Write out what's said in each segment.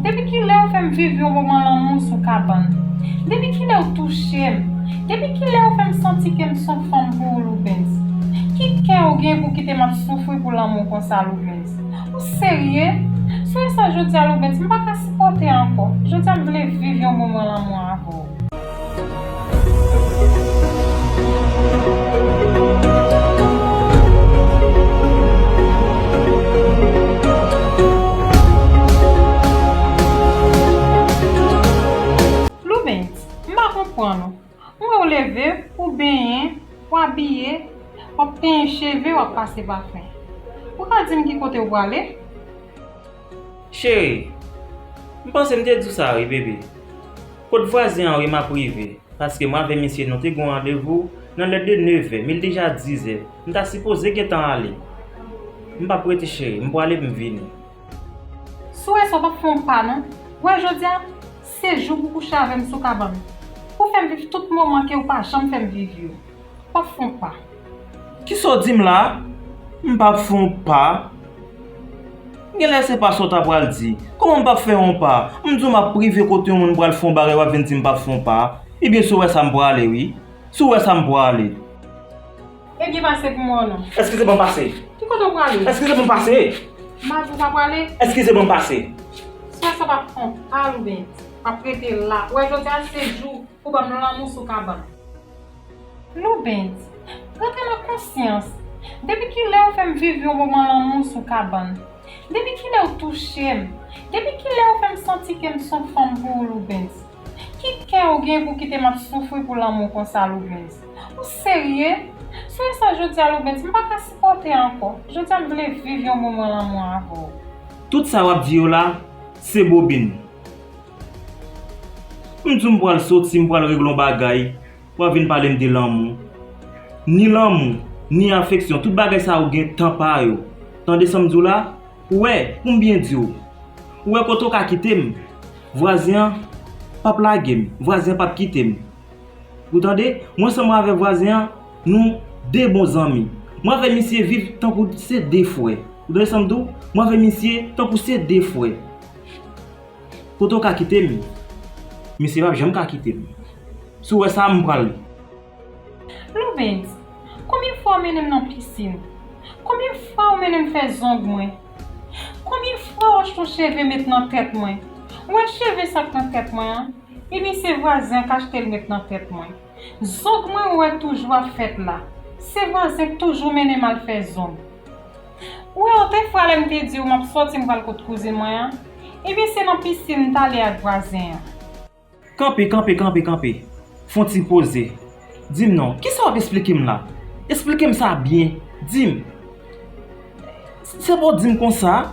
Depi kilè ou fèm viv yon moman lanmou sou kabann Depi kilè ou touchem Depi kilè ou fèm santi kem son fanm pou ou Loubens Ki kè ou gen pou kitem ap soufri pou lanmou konsa Loubens Ou serye? Sonje sa jodia Loubens m paka sipòte ankò Jodia m vle viv yon moman lanmou avèw. Louvens, m pa konprann ou. M wè w leve, ou benyen, w abiye, w ap tenyen cheve, w ap pase pafen. Ou ka di m ki kote ou prale? Cheri, m panse m te di w sa wi bebe. Kot vwazen an wi m ap rive paske mwen avè misye nou te gen yon randevou nan lè de nevè men li deja dizè m ta sipoze gentan ale. M p ap rete cheri, m pwale m vini. Si w wè sa w p ap fè yon pa non. Wè jodi a se jou pou w kouche avè m sou kabann. Pou w fè m viv tout moman ke w pa janm fè m viv yo. Pap fon pa. Kisa w di m la? M pap fè on pa? Genlè se pa sa w ta pral di. Kòman m pap fè on pa? M di w m ap rive kote yon moun m pral fè on bagay w ap vin di m pap fè on pa? Ebyen si w wè sa m prale wi. Si w wè sa m prale. Ebyen pase pou mwen non. Eskize ban m pase. Ki kote w prale? Eskize ban m pase. M pa di w pa prale. Eskize ban m pase. Swè sa pap fon pa ou byen di. Pap rete la. Ou wè jodi a se jou. Ou banm lanmou sou kabann. Loubens, rantre nan konsyans, depi kilè ou fèm viv yon moman lanmou sou kabann? Depi kilè ou touchem? Depi kilè ou fèm santi kem son fanm pou ou Loubens? Ki kè ou gen pou kitem ap soufri pou lanmou konsa Loubens? Ou serye? Sonje sa jodia Loubens, m paka sipòte ankò, jodia m vle viv yon moman lanmou avèw. Tout sa wap di yo la se bobin. M di w m pral soti, m pral regle yon bagay, w ap vin pale m de lanmou. Ni lanmou, ni afeksyon, tout bagay sa yo gen tan pa yo. Tande sa m di w la? Ou wè, pou m byen di w, ou wè kote w ka kite m, vwazen an p ap lage m, vwazen an p ap kite m. Ou tande? Mwen sèlman avèk vwazen an, nou de bon zanmi. Mwen avèk misye viv tankou se de frè. Ou tande sa m di w? Mwen avèk misye tankou se de frè. Kote w ka kite m? Misye pap janm ka kite m. Si w wè sa, m pran l. Louvens, Konbyen fwa w mennen m nan pisin? Konbyen fwa w mennen m fè zong mwen? Konbyen fwa w achte yon cheve met nan tèt mwen? Ou wè cheve sa k nan tèt mwen an? Ebyen se vwazen an k achte l met nan tèt mwen. Zog mwen wè toujou ap fèt la. Se vwazen k toujou mennen m al fè zong. Ou wè ou te fwa lè m te di ou m ap sòti m pral kot kouzin mwen an? Ebyen se nan pisin m t ale ak vwazen an. Kanpe, kanpe, kanpe, kanpe. Fon ti poze. Di m non, kisa w ap esplike m la? Esplike m sa byen. Di m. Se pou w di m konsa,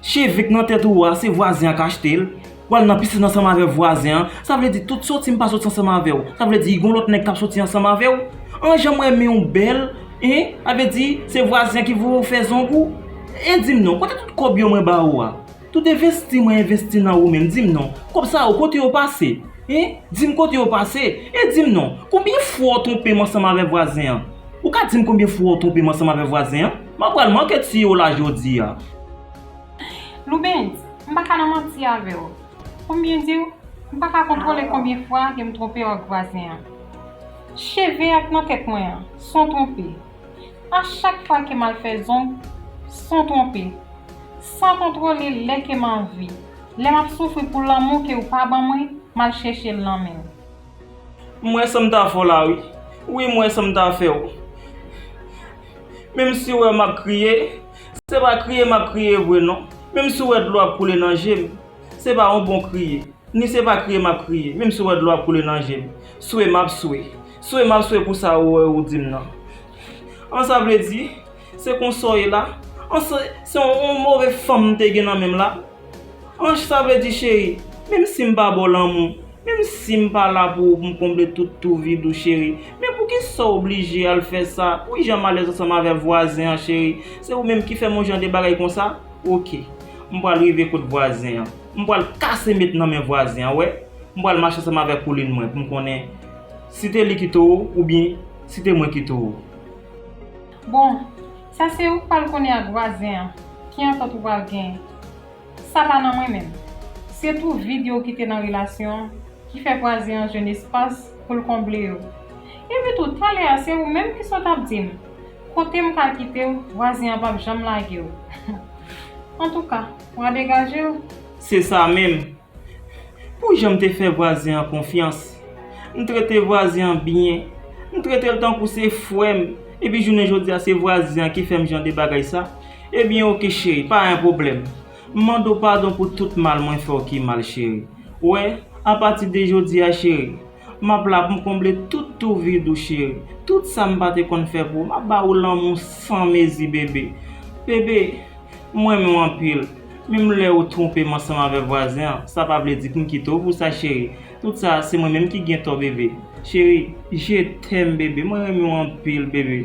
cheve k nan tèt ou a, se vwazen an k achte l, w al nan pisin ansanm avè vwazen an, sa vle di tout soti m pa soti ansanm avè w, sa vle di gon lòt nèg k ap soti ansanm avè w, an jan m renmen w bèl, hein, sa vle di se vwazen an ki voye w fè zong ou, hein di m non, kote tout kòb yo mwen ba ou a? Tout envesti mwen envesti nan ou menm dim non kòb sa yo kote yo pase hein dim kote yo pase e dim non konbyen fwa ou twonpem ansanm avè vwazen an ou ka dim konbyen fwa ou twonpem ansanm avè vwazen an mwen pral manke tiye w la jodia. Loubens, m pa ka nan manti avè w pou m byen di w m pa ka kontwole konbyen fwa ke m twonpe w ak vwazen an cheve ak nan tèt mwen an son twonpe A chak fwa ke m'al fè zong, san twonpe, san kontwole lè ke m'anvi, lè m'ap soufri pou lanmou ke ou pa ban mwen, m'al chèche'l nan men'w. M wè sam ta fè w la wi. Wi m wè sam ta fè w. Menm si w wè map kriye, se pa kriye map kriye vre non. Menm si w wè dlo ap koule nan je m, se pa yon bon kriye. Ni se pa kriye map kriye, menm si w wè dlo ap koule nan je m. Swe map swe. Swe map swe pou sa ou ou dim nan an sa vle di se konsa ou ye la an se yon move fanm m te gen nan menm la an sa vle di cheri menm sim pa baw lanmou menm sim pa la pou ou poum konble tout tou vid ou cheri men pou kisa ou oblije al fè sa wi janm alèz ansanm avè vwazen an cheri se ou menm ki fèm yon jan de bagay konsa ok m pral rive kot vwazen an m pral kase met nan men vwazen an wè m pral mache ansanm avè koulin mwen poum konnen Si te li ki towo ou byen si te mwen ki towo. Bon, sa se ou k pral konnen ak vwazen an ki antant ou pral gen. Sa pa nan mwen menm. Se twou vid yo ou kite nan relasyon an ki fè vwazen an jwenn espas pou l konble yo. Epi tou, talè a se ou menm ki sot ap di m kote m ka kite w vwazen an p ap janm lage w. Antouka, w a degaje w. Se sa menm. Pou jan m te fè vwazen an konfyans, m trete vwazen an byen, m trete l tankou se frè m, epi jounen jodi a se vwazen an ki fè m jan de bagay sa, ebyen ok cheri, pa yon pwoblèm. M mande w padon pou tout mal mwen fè w ki mal cheri. Ou wè, apatide jodi a cheri. Map la poum konble tout tou vid ou cheri Tout sa m pa te konn fè pou ou Map ba ou lanmou san mezi bebe Bebe M renmen w anpil Menm lè ou twonpe m ansanm avè vwazen an Sa pa vle di poum kite w pou sa cheri Tout sa se mwen menm ki gen tò bebe Cheri Je t'aime bebe Mwen renmen w anpil bebe